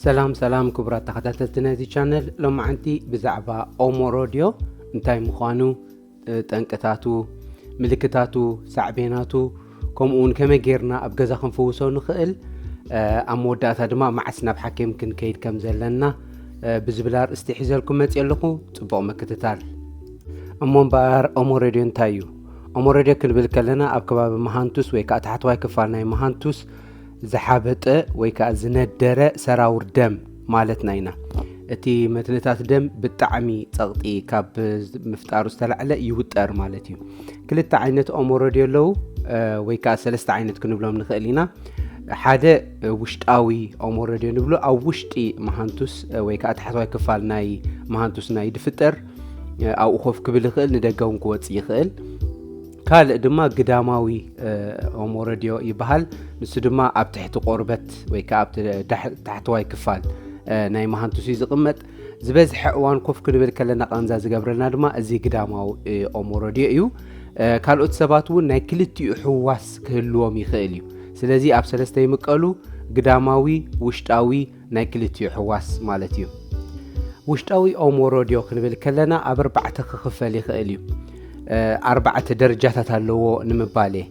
ሰላም ሰላም ክቡራት ተኸታተልቲ ነዚ ቻነል ሎማዓንቲ ብዛዕባ ኦሞ ሮድዮ እንታይ ምዃኑ ጠንቅታቱ ምልክታቱ ሳዕቤናቱ ከምኡ እውን ከመይ ጌርና ኣብ ገዛ ክንፍውሶ ንኽእል ኣብ መወዳእታ ድማ መዓስ ናብ ሓኪም ክንከይድ ከም ዘለና ብዝብል ኣርእስቲ ሒዘልኩም መፅ ኣለኹ ፅቡቕ ምክትታል እሞ እምበኣር ኦሞ ሬድዮ እንታይ እዩ ኦሞ ሬድዮ ክንብል ከለና ኣብ ከባቢ መሃንቱስ ወይ ከዓ ታሕተዋይ ክፋል ናይ መሃንቱስ ዝሓበጠ ወይ ከዓ ዝነደረ ሰራውር ደም ማለትና ኢና እቲ መትንታት ደም ብጣዕሚ ፀቕጢ ካብ ምፍጣሩ ዝተላዕለ ይውጠር ማለት እዩ ክልተ ዓይነት ኦሞሮዲ ኣለዉ ወይ ከዓ ሰለስተ ዓይነት ክንብሎም ንኽእል ኢና ሓደ ውሽጣዊ ኦሞሮዲ ንብሎ ኣብ ውሽጢ መሃንቱስ ወይ ከዓ ታሕተዋይ ክፋል ናይ መሃንቱስና እዩ ድፍጠር ኣብኡ ኮፍ ክብል ይኽእል ንደገውን ክወፅ ይኽእል ካልእ ድማ ግዳማዊ ኦሞረድዮ ይበሃል ንሱ ድማ ኣብ ትሕቲ ቆርበት ወይ ከዓ ኣብ ታሕተዋይ ክፋል ናይ መሃንቱስ እዩ ዝቕመጥ ዝበዝሐ እዋን ኮፍ ክንብል ከለና ቃንዛ ዝገብረልና ድማ እዚ ግዳማዊ ኦሞረድዮ እዩ ካልኦት ሰባት እውን ናይ ክልቲኡ ሕዋስ ክህልዎም ይኽእል እዩ ስለዚ ኣብ ሰለስተ ይምቀሉ ግዳማዊ ውሽጣዊ ናይ ክልቲኡ ሕዋስ ማለት እዩ። ውሽጣዊ ኦሞሮዲዮ ክንብል ከለና ኣብ ኣርባዕተ ክኽፈል ይኽእል እዩ። ኣርባዕተ ደረጃታት ኣለዎ ንምባል እየ።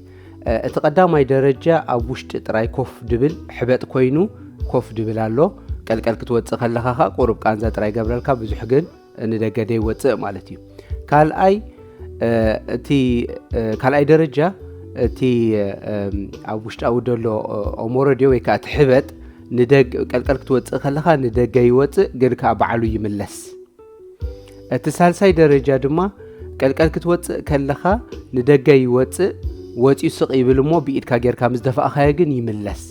እቲ ቀዳማይ ደረጃ ኣብ ውሽጢ ጥራይ ኮፍ ድብል ሕበጥ ኮይኑ ኮፍ ድብል ኣሎ ቀልቀል ክትወፅእ ከለኻ ከዓ ቁሩብ ቃንዛ ጥራይ ገብረልካ ብዙሕ ግን ንደገ ደይወፅእ ማለት እዩ ካልኣይ እቲ ካልኣይ ደረጃ እቲ ኣብ ውሽጣዊ ደሎ ኦሞረድዮ ወይ ከዓ እቲ ሕበጥ ቀልቀል ክትወፅእ ከለካ ንደገ ይወፅእ ግን ከዓ በዓሉ ይምለስ እቲ ሳልሳይ ደረጃ ድማ ቀልቀል ክትወፅእ ከለካ ንደገ ይወፅእ ወፅኡ ስቕ ይብል እሞ ብኢድካ ጌርካ ምስ ደፋእኻዮ ግን ይምለስ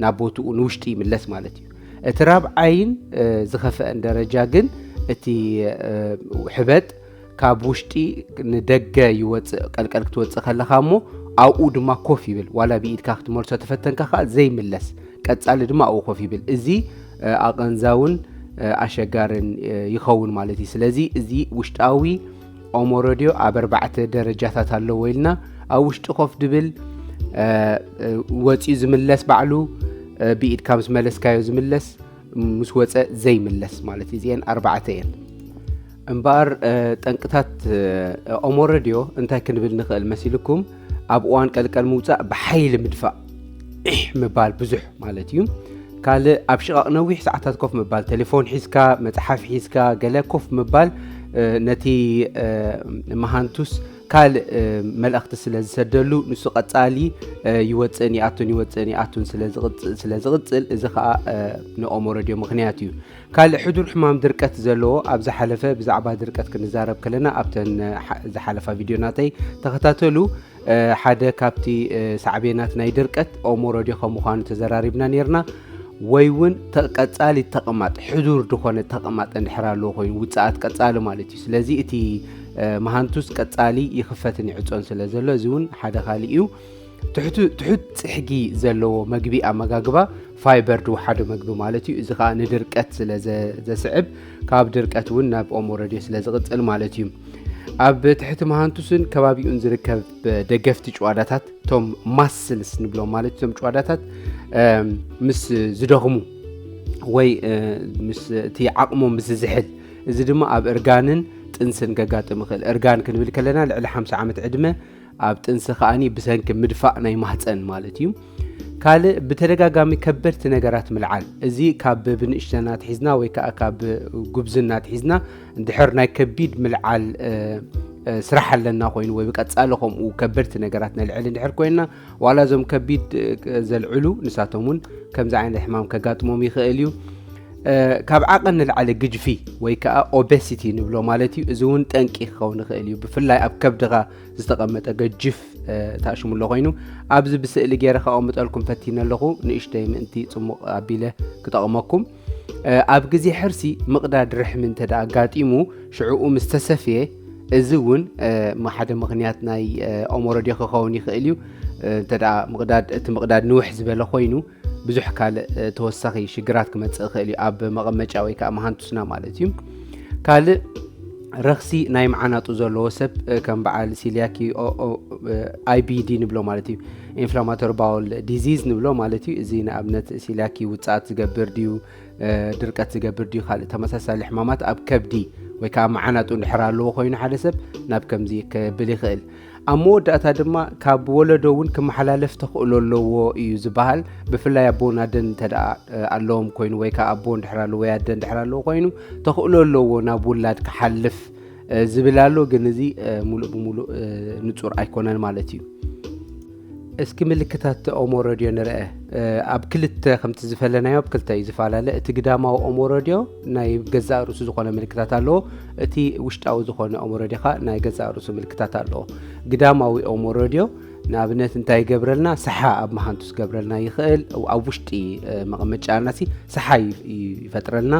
ናብ ቦትኡ ንውሽጢ ይምለስ ማለት እዩ እቲ ራብዓይን ዝኸፈአን ደረጃ ግን እቲ ሕበጥ ካብ ውሽጢ ንደገ ይወፅእ ቀልቀል ክትወፅእ ከለኻ እሞ ኣብኡ ድማ ኮፍ ይብል ዋላ ብኢድካ ክትመልሶ ተፈተንካ ከዓ ዘይምለስ ቀፃሊ ድማ ኣብኡ ኮፍ ይብል እዚ ኣቐንዛውን ኣሸጋርን ይኸውን ማለት እዩ ስለዚ እዚ ውሽጣዊ ኦሞ ረድዮ ኣብ ኣርባዕተ ደረጃታት ኣለዎ ኢልና ኣብ ውሽጢ ኮፍ ድብል ወፂኡ ዝምለስ ባዕሉ ብኢድካ ምስ መለስካዮ ዝምለስ ምስ ወፀ ዘይምለስ ማለት እዩ እዚአን ኣርባዕተ እየን እምበኣር ጠንቅታት ኦሞ ረድዮ እንታይ ክንብል ንኽእል መሲልኩም ኣብ እዋን ቀልቀል ምውፃእ ብሓይሊ ምድፋእ ዒሕ ምባል ብዙሕ ማለት እዩ ካልእ ኣብ ሽቓቕ ነዊሕ ሰዓታት ኮፍ ምባል ቴሌፎን ሒዝካ መፅሓፍ ሒዝካ ገለ ኮፍ ምባል ነቲ መሃንቱስ ካልእ መልእኽቲ ስለ ዝሰደሉ ንሱ ቀፃሊ ይወፅእን ይኣቱን ይወፅእን ይኣቱን ስለ ዝቕፅል እዚ ከዓ ንኦሞ ረድዮ ምክንያት እዩ ካልእ ሕዱር ሕማም ድርቀት ዘለዎ ኣብ ዝሓለፈ ብዛዕባ ድርቀት ክንዛረብ ከለና ኣብተን ዝሓለፋ ቪድዮ ናተይ ተኸታተሉ ሓደ ካብቲ ሳዕቤናት ናይ ድርቀት ኦሞሮዲ ከም ምዃኑ ተዘራሪብና ነርና ወይ እውን ቀፃሊ ተቕማጥ ሕዱር ዝኾነ ተቕማጥ እንድሕር ኣለዎ ኮይኑ ውፅኣት ቀፃሊ ማለት እዩ ስለዚ እቲ መሃንቱስ ቀፃሊ ይኽፈትን ይዕፆን ስለ ዘሎ እዚ እውን ሓደ ካልእ እዩ ትሑት ፅሕጊ ዘለዎ መግቢ ኣመጋግባ ፋይበር ድውሓደ መግቢ ማለት እዩ እዚ ከዓ ንድርቀት ስለ ዘስዕብ ካብ ድርቀት እውን ናብ ኦሞ ረድዮ ስለ ዝቕፅል ማለት እዩ ኣብ ትሕቲ መሃንቱስን ከባቢኡን ዝርከብ ደገፍቲ ጭዋዳታት እቶም ማስልስ ንብሎም ማለት እቶም ጭዋዳታት ምስ ዝደኽሙ ወይ ምስእቲ ዓቕሞም ምስ ዝዝሕል እዚ ድማ ኣብ እርጋንን ጥንስን ገጋጥም ይኽእል እርጋን ክንብል ከለና ልዕሊ ሓ ዓመት ዕድመ ኣብ ጥንሲ ከኣኒ ብሰንኪ ምድፋእ ናይ ማህፀን ማለት እዩ። ካልእ ብተደጋጋሚ ከበድቲ ነገራት ምልዓል እዚ ካብ ብንእሽተና ትሒዝና ወይ ከዓ ካብ ጉብዝና ትሒዝና ድሕር ናይ ከቢድ ምልዓል ስራሕ ኣለና ኮይኑ ወይ ብቀፃሊ ከምኡ ከበድቲ ነገራት ነልዕል እንድሕር ኮይና ዋላ እዞም ከቢድ ዘልዕሉ ንሳቶም እውን ከምዚ ዓይነት ሕማም ከጋጥሞም ይኽእል እዩ ካብ ዓቐን ንላዕሊ ግጅፊ ወይ ከዓ ኦቤሲቲ ንብሎ ማለት እዩ እዚ እውን ጠንቂ ክኸውን ይኽእል እዩ ብፍላይ ኣብ ከብድኻ ዝተቐመጠ ገጅፍ ታሽሙሎ ኮይኑ ኣብዚ ብስእሊ ገይረ ከቐምጠልኩም ፈቲነ ኣለኹ ንእሽተይ ምእንቲ ፅሙቕ ኣቢለ ክጠቕመኩም ኣብ ግዜ ሕርሲ ምቕዳድ ርሕሚ እንተ ኣጋጢሙ ሽዕኡ ምስ ተሰፍየ እዚ እውን ሓደ ምክንያት ናይ ኦሞሮዴ ክኸውን ይኽእል እዩ እንተ ምቕዳድ እቲ ምቕዳድ ንውሕ ዝበለ ኮይኑ ብዙሕ ካልእ ተወሳኺ ሽግራት ክመፅእ ይኽእል እዩ ኣብ መቐመጫ ወይ ከዓ መሃንቱስና ማለት እዩ ካልእ ረኽሲ ናይ መዓናጡ ዘለዎ ሰብ ከም በዓል ሲልያኪ ኣይቢዲ ንብሎ ማለት እዩ ኢንፍላማቶሪ ባውል ዲዚዝ ንብሎ ማለት እዩ እዚ ንኣብነት ሲልያኪ ውፅኣት ዝገብር ድዩ ድርቀት ዝገብር ድዩ ካልእ ተመሳሳሊ ሕማማት ኣብ ከብዲ ወይ ከዓ መዓናጡ እንድሕር ኣለዎ ኮይኑ ሓደ ሰብ ናብ ከምዚ ክብል ይኽእል ኣብ መወዳእታ ድማ ካብ ወለዶ እውን ክመሓላለፍ ተኽእሎ ኣለዎ እዩ ዝበሃል ብፍላይ ኣቦን ኣደን እንተ ኣለዎም ኮይኑ ወይ ከዓ ኣቦን ድሕር ኣለዎ ወይ ኣደን ድሕር ኣለዎ ኮይኑ ተኽእሎ ኣለዎ ናብ ውላድ ክሓልፍ ዝብል ኣሎ ግን እዚ ሙሉእ ብሙሉእ ንፁር ኣይኮነን ማለት እዩ እስኪ ምልክታት ኦሞ ረድዮ ንርአ ኣብ ክልተ ከምቲ ዝፈለናዮ ኣብ ክልተ እዩ ዝፈላለ እቲ ግዳማዊ ኦሞ ረድዮ ናይ ገዛእ ርእሱ ዝኾነ ምልክታት ኣለዎ እቲ ውሽጣዊ ዝኾነ ኦሞ ረድዮ ከዓ ናይ ገዛእ ርእሱ ምልክታት ኣለዎ ግዳማዊ ኦሞ ረድዮ ንኣብነት እንታይ ይገብረልና ሰሓ ኣብ መሃንቱ ዝገብረልና ይኽእል ኣብ ውሽጢ መቐመጫና ሲ ሰሓ ይፈጥረልና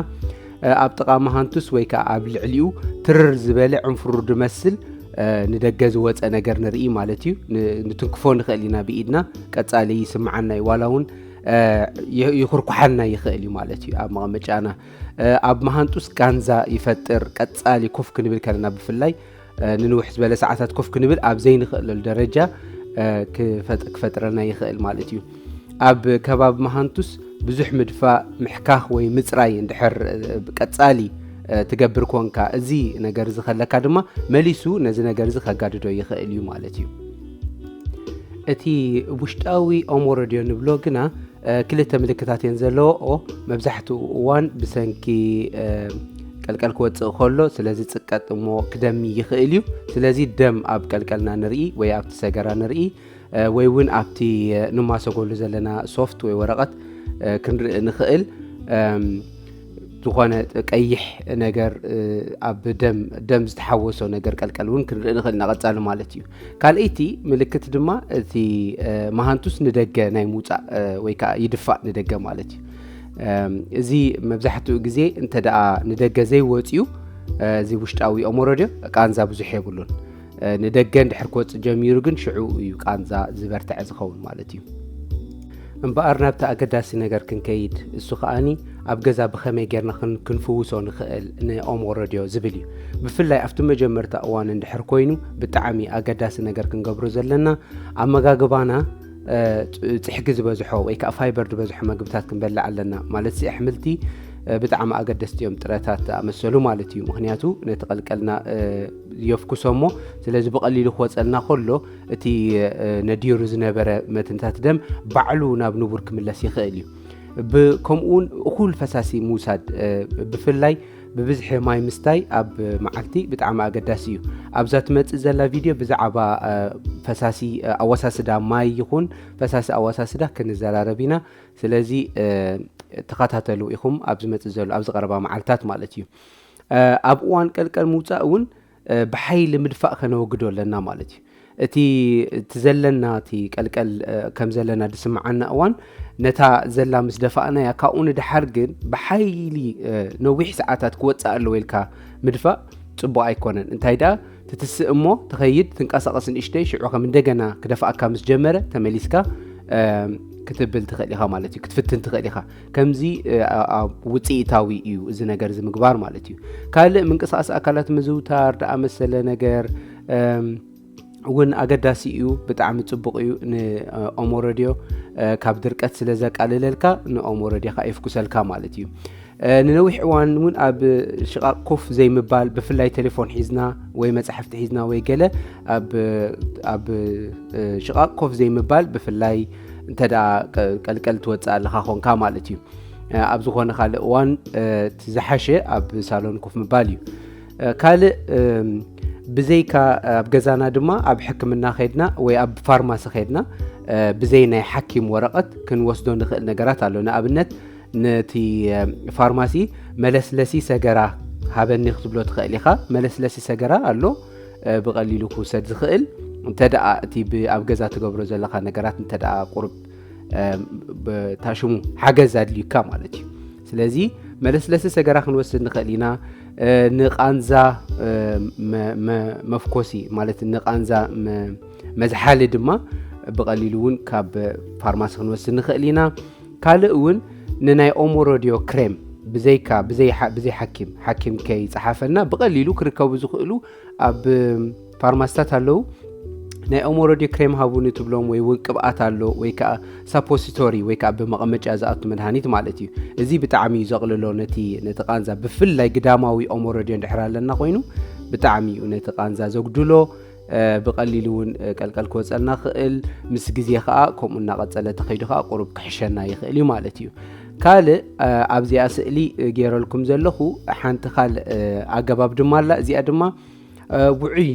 ኣብ ጥቓ መሃንቱስ ወይ ከዓ ኣብ ልዕሊኡ ትርር ዝበለ ዕንፍሩ ድመስል ንደገ ዝወፀ ነገር ንርኢ ማለት እዩ ንትንክፎ ንኽእል ኢና ብኢድና ቀፃሊ ይስምዓና እዩ ዋላ እውን ይኹርኩሓና ይኽእል እዩ ማለት እዩ ኣብ መቐመጫና ኣብ መሃንጡስ ጋንዛ ይፈጥር ቀፃሊ ኮፍ ክንብል ከለና ብፍላይ ንንውሕ ዝበለ ሰዓታት ኮፍ ክንብል ኣብ ዘይንኽእለሉ ደረጃ ክፈጥረና ይኽእል ማለት እዩ ኣብ ከባቢ መሃንቱስ ብዙሕ ምድፋእ ምሕካኽ ወይ ምፅራይ እንድሕር ቀፃሊ ትገብር ኮንካ እዚ ነገር እዚ ከለካ ድማ መሊሱ ነዚ ነገር እዚ ከጋድዶ ይኽእል እዩ ማለት እዩ እቲ ውሽጣዊ ኦሞረድዮ ንብሎ ግና ክልተ ምልክታት እየን ዘለዎ መብዛሕትኡ እዋን ብሰንኪ ቀልቀል ክወፅእ ከሎ ስለ ዝፅቀጥ እሞ ክደሚ ይኽእል እዩ ስለዚ ደም ኣብ ቀልቀልና ንርኢ ወይ ኣብቲ ሰገራ ንርኢ ወይ እውን ኣብቲ ንማሰጎሉ ዘለና ሶፍት ወይ ወረቐት ክንርኢ ንኽእል ዝኾነ ቀይሕ ነገር ኣብ ደም ደም ዝተሓወሶ ነገር ቀልቀል እውን ክንርኢ ንኽእል ኢና ቀፃሊ ማለት እዩ ካልኣይቲ ምልክት ድማ እቲ መሃንቱስ ንደገ ናይ ምውፃእ ወይ ከዓ ይድፋእ ንደገ ማለት እዩ እዚ መብዛሕትኡ ግዜ እንተ ደኣ ንደገ ዘይወፅዩ እዚ ውሽጣዊ ኣእምሮ ድዮ ቃንዛ ብዙሕ የብሉን ንደገ እንድሕር ክወፅ ጀሚሩ ግን ሽዑ እዩ ቃንዛ ዝበርትዐ ዝኸውን ማለት እዩ እምበኣር ናብቲ ኣገዳሲ ነገር ክንከይድ እሱ ከዓኒ ኣብ ገዛ ብኸመይ ጌርና ክንፍውሶ ንኽእል ንኦሞሮ ድዮ ዝብል እዩ ብፍላይ ኣብቲ መጀመርታ እዋን እንድሕር ኮይኑ ብጣዕሚ ኣገዳሲ ነገር ክንገብሮ ዘለና ኣመጋግባና ፅሕጊ ዝበዝሖ ወይ ከዓ ፋይበር ዝበዝሖ መግብታት ክንበልዕ ኣለና ማለት ሲ ኣሕምልቲ ብጣዕሚ ኣገደስቲ እዮም ጥረታት ኣመሰሉ ማለት እዩ ምክንያቱ ነቲ ቀልቀልና የፍኩሶ እሞ ስለዚ ብቐሊሉ ክወፀልና ከሎ እቲ ነዲሩ ዝነበረ መትንታት ደም ባዕሉ ናብ ንቡር ክምለስ ይኽእል እዩ ከምኡውን እኹል ፈሳሲ ምውሳድ ብፍላይ ብብዝሒ ማይ ምስታይ ኣብ መዓልቲ ብጣዕሚ ኣገዳሲ እዩ ኣብዛ ትመፅእ ዘላ ቪድዮ ብዛዕባ ፈሳሲ ኣወሳስዳ ማይ ይኹን ፈሳሲ ኣወሳስዳ ክንዘራረብ ኢና ስለዚ ተኸታተሉ ኢኹም ኣብ ዝመፅእ ዘሎ ኣብዚ ቀረባ መዓልትታት ማለት እዩ ኣብ እዋን ቀልቀል ምውፃእ እውን ብሓይሊ ምድፋእ ከነወግዶ ኣለና ማለት እዩ። እቲ እቲ ዘለና እቲ ቀልቀል ከም ዘለና ዝስምዓና እዋን ነታ ዘላ ምስ ደፋእናያ ካብኡ ንድሓር ግን ብሓይሊ ነዊሕ ሰዓታት ክወፅእ ኣለዎ ኢልካ ምድፋእ ፅቡቅ ኣይኮነን እንታይ ደኣ ትትስእ እሞ ትኸይድ ትንቀሳቐስ ንእሽተይ ሽዑ ከም እንደገና ክደፍኣካ ምስ ጀመረ ተመሊስካ ክትብል ትኽእል ኢኻ ማለት እዩ ክትፍትን ትኽእል ኢኻ ከምዚ ውፅኢታዊ እዩ እዚ ነገር እዚ ምግባር ማለት እዩ ካልእ ምንቅስቃስ ኣካላት ምዝውታር ደኣ መሰለ ነገር እውን ኣገዳሲ እዩ ብጣዕሚ ፅቡቅ እዩ ንኦሞ ረድዮ ካብ ድርቀት ስለ ዘቃልለልካ ንኦሞ ረድዮካ የፍኩሰልካ ማለት እዩ ንነዊሕ እዋን እውን ኣብ ሽቓቕ ኮፍ ዘይምባል ብፍላይ ቴሌፎን ሒዝና ወይ መፅሕፍቲ ሒዝና ወይ ገለ ኣብ ሽቓቕ ኮፍ ዘይምባል ብፍላይ እንተ ቀልቀል ትወፅእ ኣለካ ኮንካ ማለት እዩ ኣብ ዝኾነ ካልእ እዋን ዝሓሸ ኣብ ሳሎን ኮፍ ምባል እዩ ካልእ ብዘይካ ኣብ ገዛና ድማ ኣብ ሕክምና ከድና ወይ ኣብ ፋርማሲ ከድና ብዘይ ናይ ሓኪም ወረቐት ክንወስዶ ንኽእል ነገራት ኣሎ ንኣብነት ነቲ ፋርማሲ መለስለሲ ሰገራ ሃበኒ ክትብሎ ትኽእል ኢኻ መለስለሲ ሰገራ ኣሎ ብቐሊሉ ክውሰድ ዝኽእል እንተደኣ እቲ ኣብ ገዛ ትገብሮ ዘለካ ነገራት እንተደኣ ቁርብ ታሽሙ ሓገዝ ኣድልዩካ ማለት እዩ ስለዚ መለስለሲ ሰገራ ክንወስድ ንኽእል ኢና ንቃንዛ መፍኮሲ ማለት ንቃንዛ መዝሓሊ ድማ ብቐሊሉ እውን ካብ ፋርማሲ ክንወስድ ንኽእል ኢና ካልእ እውን ንናይ ኦሞሮድዮ ክሬም ብዘይካ ብዘይ ሓኪም ሓኪም ከይፀሓፈና ብቐሊሉ ክርከቡ ዝኽእሉ ኣብ ፋርማስታት ኣለዉ ናይ ኦሞሮድዮ ክሬም ሃቡኒ ትብሎም ወይ እውን ቅብኣት ኣሎ ወይ ከዓ ሳፖሲቶሪ ወይ ከዓ ብመቐመጫ ዝኣቱ መድሃኒት ማለት እዩ እዚ ብጣዕሚ እዩ ዘቕልሎ ነቲ ነቲ ቃንዛ ብፍላይ ግዳማዊ ኦሞሮድዮ እንድሕር ኣለና ኮይኑ ብጣዕሚ እዩ ነቲ ቃንዛ ዘጉድሎ ብቐሊሉ እውን ቀልቀል ክወፀልና ክእል ምስ ግዜ ከዓ ከምኡ እናቐፀለ ተኸይዱ ከዓ ቁሩብ ክሕሸና ይኽእል እዩ ማለት እዩ ካልእ ኣብዚኣ ስእሊ ገይረልኩም ዘለኹ ሓንቲ ካልእ ኣገባብ ድማ ኣላ እዚኣ ድማ ውዑይ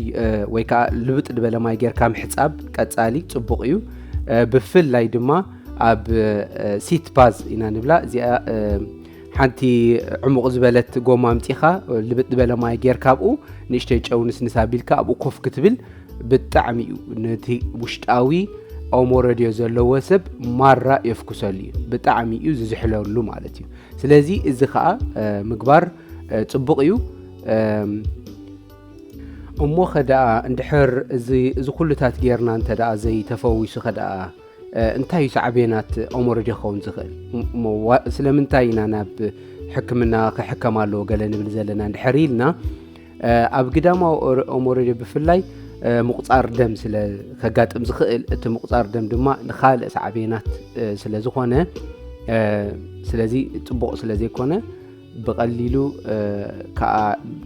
ወይ ከዓ ልብጥ ዝበለ ማይ ጌርካ ምሕፃብ ቀፃሊ ፅቡቕ እዩ ብፍላይ ድማ ኣብ ሲት ባዝ ኢና ንብላ እዚኣ ሓንቲ ዕሙቕ ዝበለት ጎማ ኣምፂኻ ልብጥ ዝበለ ማይ ጌርካ ኣብኡ ንእሽተይ ጨው ንስንስ ኣቢልካ ኣብኡ ኮፍ ክትብል ብጣዕሚ እዩ ነቲ ውሽጣዊ ኦሞ ረድዮ ዘለዎ ሰብ ማራ የፍኩሰሉ እዩ ብጣዕሚ እዩ ዝዝሕለሉ ማለት እዩ ስለዚ እዚ ከዓ ምግባር ፅቡቕ እዩ እሞ ኸደኣ እንድሕር እዚ ኩሉታት ጌርና እንተ ዘይተፈዊሱ ኸደኣ እንታይ እዩ ሳዕቤናት ኦሞሮጀ ክኸውን ዝኽእል እሞ ስለምንታይ ኢና ናብ ሕክምና ክሕከም ኣለዎ ገለ ንብል ዘለና እንድሕር ኢልና ኣብ ግዳማዊ ኦሞሮጀ ብፍላይ ምቁፃር ደም ስለ ከጋጥም ዝኽእል እቲ ምቁፃር ደም ድማ ንካልእ ሳዕቤናት ስለ ዝኾነ ስለዚ ፅቡቕ ስለ ዘይኮነ ብቐሊሉ ከዓ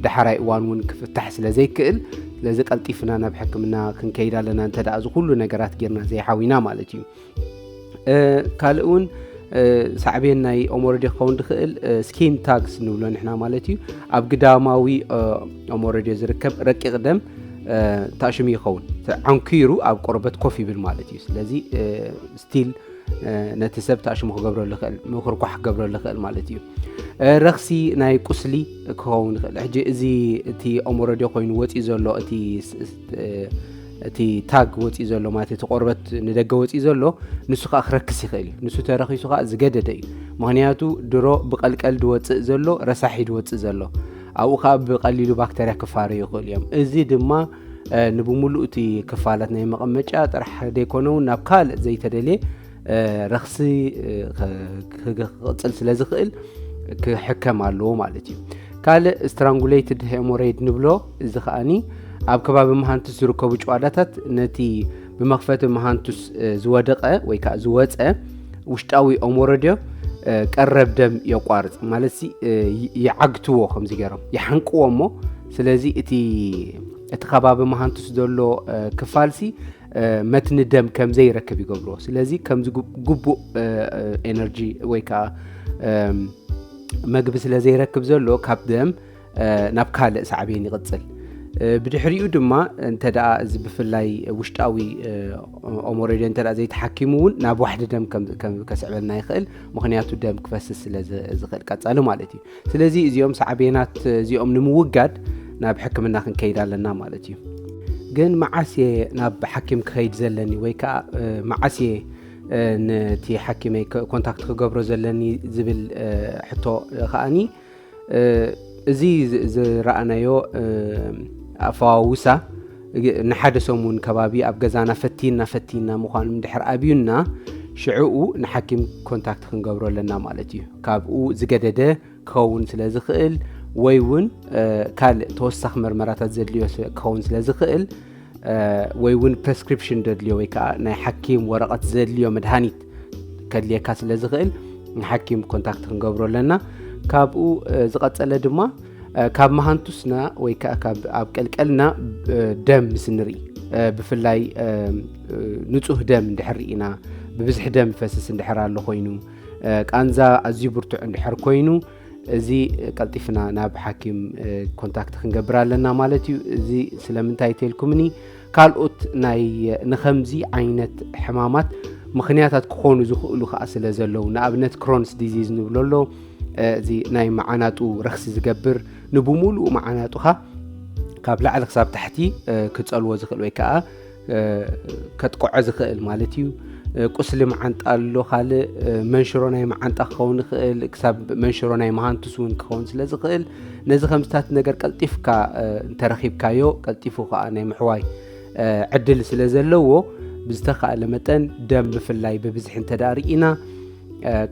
ዳሕራይ እዋን እውን ክፍታሕ ስለ ዘይክእል ስለዚ ቀልጢፍና ናብ ሕክምና ክንከይድ ኣለና እንተ እዚ ኩሉ ነገራት ጌርና ዘይሓዊና ማለት እዩ ካልእ እውን ሳዕቤን ናይ ኦሞረዲ ክኸውን ዝኽእል ስኪን ታግስ ንብሎ ንሕና ማለት እዩ ኣብ ግዳማዊ ኦሞረዲ ዝርከብ ረቂቕ ደም ታሽሙ ይኸውን ዓንኪሩ ኣብ ቆርበት ኮፍ ይብል ማለት እዩ ስለዚ ስቲል ነቲ ሰብ ተኣሽሙ ክገብረሉ ይኽእል ምኩርኳሕ ክገብረሉ ይኽእል ማለት እዩ ረኽሲ ናይ ቁስሊ ክኸውን ይኽእል ሕጂ እዚ እቲ ኦሞረድዮ ኮይኑ ወፂኡ ዘሎ እቲ እቲ ታግ ወፂኡ ዘሎ ማለት እቲ ቆርበት ንደገ ወፂኡ ዘሎ ንሱ ከዓ ክረክስ ይኽእል እዩ ንሱ ተረኪሱ ከዓ ዝገደደ እዩ ምክንያቱ ድሮ ብቀልቀል ድወፅእ ዘሎ ረሳሒ ድወፅእ ዘሎ ኣብኡ ከዓ ብቀሊሉ ባክተርያ ክፋረዩ ይኽእሉ እዮም እዚ ድማ ንብምሉእ እቲ ክፋላት ናይ መቐመጫ ጥራሕ ዘይኮነ እውን ናብ ካልእ ዘይተደልየ ረኽሲ ክቕፅል ስለ ዝኽእል ክሕከም ኣለዎ ማለት እዩ ካልእ ስትራንጉሌትድ ሄሞሬይድ ንብሎ እዚ ከዓኒ ኣብ ከባቢ መሃንቱስ ዝርከቡ ጨዋዳታት ነቲ ብመኽፈቲ መሃንቱስ ዝወደቐ ወይ ከዓ ዝወፀ ውሽጣዊ ኦሞረድዮ ቀረብ ደም የቋርፅ ማለት ይዓግትዎ ከምዚ ገይሮም ይሓንቅዎ እሞ ስለዚ እቲ እቲ ከባቢ መሃንቱስ ዘሎ ክፋልሲ መትኒ ደም ከም ዘይረክብ ይገብርዎ ስለዚ ከምዚ ግቡእ ኤነርጂ ወይ ከዓ መግቢ ስለ ዘይረክብ ዘሎ ካብ ደም ናብ ካልእ ሳዕቤን ይቕፅል ብድሕሪኡ ድማ እንተ እዚ ብፍላይ ውሽጣዊ ኦሞሬድ እንተ ዘይተሓኪሙ እውን ናብ ዋሕዲ ደም ከስዕበልና ይኽእል ምክንያቱ ደም ክፈስስ ስለ ዝኽእል ቀፃሊ ማለት እዩ ስለዚ እዚኦም ሳዕቤናት እዚኦም ንምውጋድ ናብ ሕክምና ክንከይድ ኣለና ማለት እዩ ግን መዓስ እየ ናብ ሓኪም ክኸይድ ዘለኒ ወይ ከዓ መዓስ እየ ነቲ ሓኪመይ ኮንታክት ክገብሮ ዘለኒ ዝብል ሕቶ ከዓኒ እዚ ዝረኣናዮ ኣፈዋውሳ ንሓደ ሰሙን ከባቢ ኣብ ገዛና ፈቲና ፈቲና ምዃኑ ድሕር ኣብዩና ሽዕኡ ንሓኪም ኮንታክት ክንገብሮ ኣለና ማለት እዩ ካብኡ ዝገደደ ክኸውን ስለ ዝኽእል ወይ እውን ካልእ ተወሳኺ መርመራታት ዘድልዮ ክኸውን ስለ ዝኽእል ወይ እውን ፕሬስክሪፕሽን ዘድልዮ ወይ ከዓ ናይ ሓኪም ወረቐት ዘድልዮ መድሃኒት ከድልየካ ስለ ዝኽእል ንሓኪም ኮንታክት ክንገብሮ ኣለና ካብኡ ዝቐፀለ ድማ ካብ መሃንቱስና ወይ ከዓ ካብ ኣብ ቀልቀልና ደም ምስ ንርኢ ብፍላይ ንፁህ ደም እንድሕር ኢና ብብዝሒ ደም ፈስስ እንድሕር ኣሎ ኮይኑ ቃንዛ ኣዝዩ ብርቱዕ እንድሕር ኮይኑ እዚ ቀልጢፍና ናብ ሓኪም ኮንታክት ክንገብር ኣለና ማለት እዩ እዚ ስለምንታይ ተልኩምኒ ካልኦት ናይ ንኸምዚ ዓይነት ሕማማት ምኽንያታት ክኾኑ ዝኽእሉ ከዓ ስለ ዘለዉ ንኣብነት ክሮንስ ዲዚዝ ንብሎ ኣሎ እዚ ናይ መዓናጡ ረክሲ ዝገብር ንብምሉኡ መዓናጡኻ ካብ ላዕሊ ክሳብ ታሕቲ ክፀልዎ ዝኽእል ወይ ከዓ ከጥቅዖ ዝኽእል ማለት እዩ ቁስሊ መዓንጣ ኣሎ ካልእ መንሽሮ ናይ መዓንጣ ክኸውን ይኽእል ክሳብ መንሽሮ ናይ መሃንቱስ እውን ክኸውን ስለ ዝኽእል ነዚ ከምስታት ነገር ቀልጢፍካ እንተረኺብካዮ ቀልጢፉ ከዓ ናይ ምሕዋይ ዕድል ስለ ዘለዎ ብዝተካእለ መጠን ደም ብፍላይ ብብዝሒ እንተ ርኢና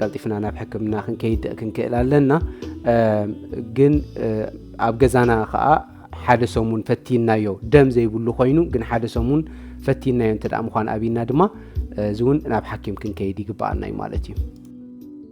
ቀልጢፍና ናብ ሕክምና ክንከይድ ክንክእል ኣለና ግን ኣብ ገዛና ከዓ ሓደ ሰሙን ፈቲናዮ ደም ዘይብሉ ኮይኑ ግን ሓደ ሰሙን ፈቲናዮ እንተ ምኳን ኣብና ድማ እዚ እውን ናብ ሓኪም ክንከይድ ይግበኣና እዩ ማለት እዩ